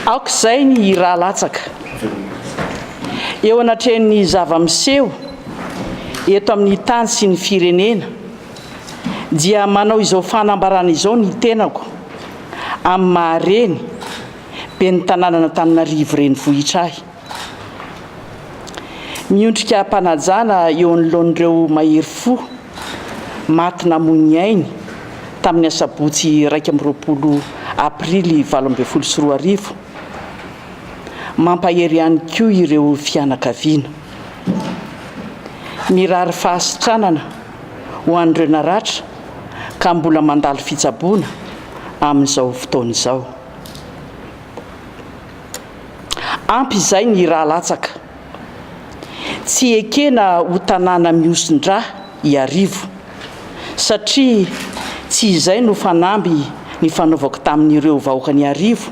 Aoka izay ny hira latsaka eo anatrehan'ny zava-miseho eto amin'ny tany sy ny firenena dia manao izao fanambarana izao ny tenako amin'ny maha reny ben'ny tanànan'Antananarivo renivohitra ahy. Miondrika am-panajana eo anoloan'ireo mahery fo maty namoy ny ainy tamin'ny asabotsy iraika amby roapolo aprily valo ambin'ny folo sy roa arivo. Mampahery ihany koa ireo fianakaviana. Mirary fahasitranana ho an'ireo naratra ka mbola mandalo fitsaboana amin'izao fotoana izao. Ampy izay ny rà latsaka. Tsy ekena ho tanàna mihosin-drà Iarivo, satria tsy izay no fanamby nifanaovako tamin'ireo vahoakan'Iarivo,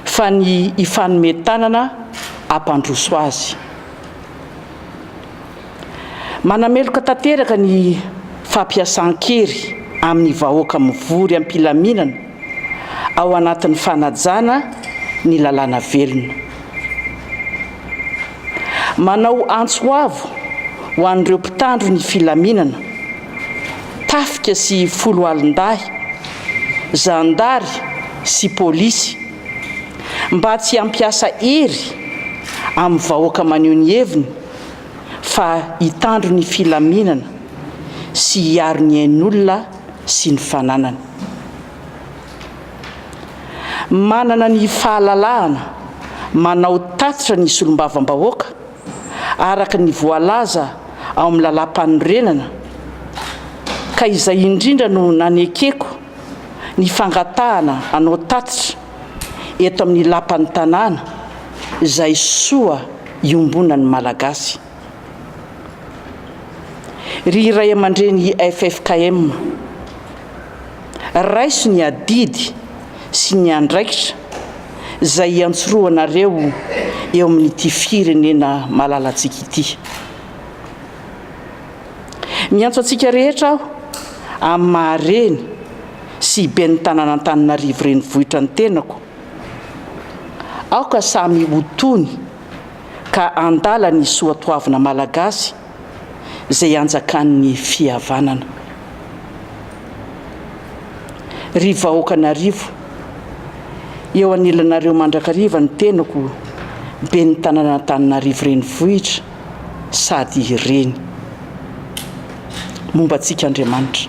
fa ny hifanome tanana hampandroso azy. Manameloka tanteraka ny fampiasan-kery amin'ny vahoaka mivory am-pilaminana, ao anatin'ny fanajana ny lalàna velona. Manao antso avo ho an'ireo mpitandro ny filaminana, tafika sy foloalindahy, zandary sy polisy, mba tsy hampiasa hery amin'ny vahoaka maneho ny heviny fa hitandro ny filaminana sy hiaro ny ain'olona sy ny fananany. Manana ny fahalalahana manao tatitra ny solombavambahoaka araka ny voalaza ao amin'ny Lalàmpanorenana ka izay indrindra no nanekeko ny fangatahana hanao tatitra eto amin'ny Lapan'ny Tanàna izay soa iombonan'ny Malagasy. Ry ray aman-dreny ffkm, raiso ny adidy sy ny andraikitra izay iantsorohanareo eo amin'ity firenena malalantsika ity. Miantso antsika rehetra aho amin'ny maha reny sy ben'ny tanàn'Antananarivo renivohitra ny tenako, aoka samy ho tony, ka handala ny soatoavina malagasy izay hanjakan'ny fihavanana. Ry vahoakan'Arivo, eo anilanareo mandrakariva ny tenako Ben'ny tanan'Antananarivo Renivohitra sady Reny. Momba antsika Andriamanitra.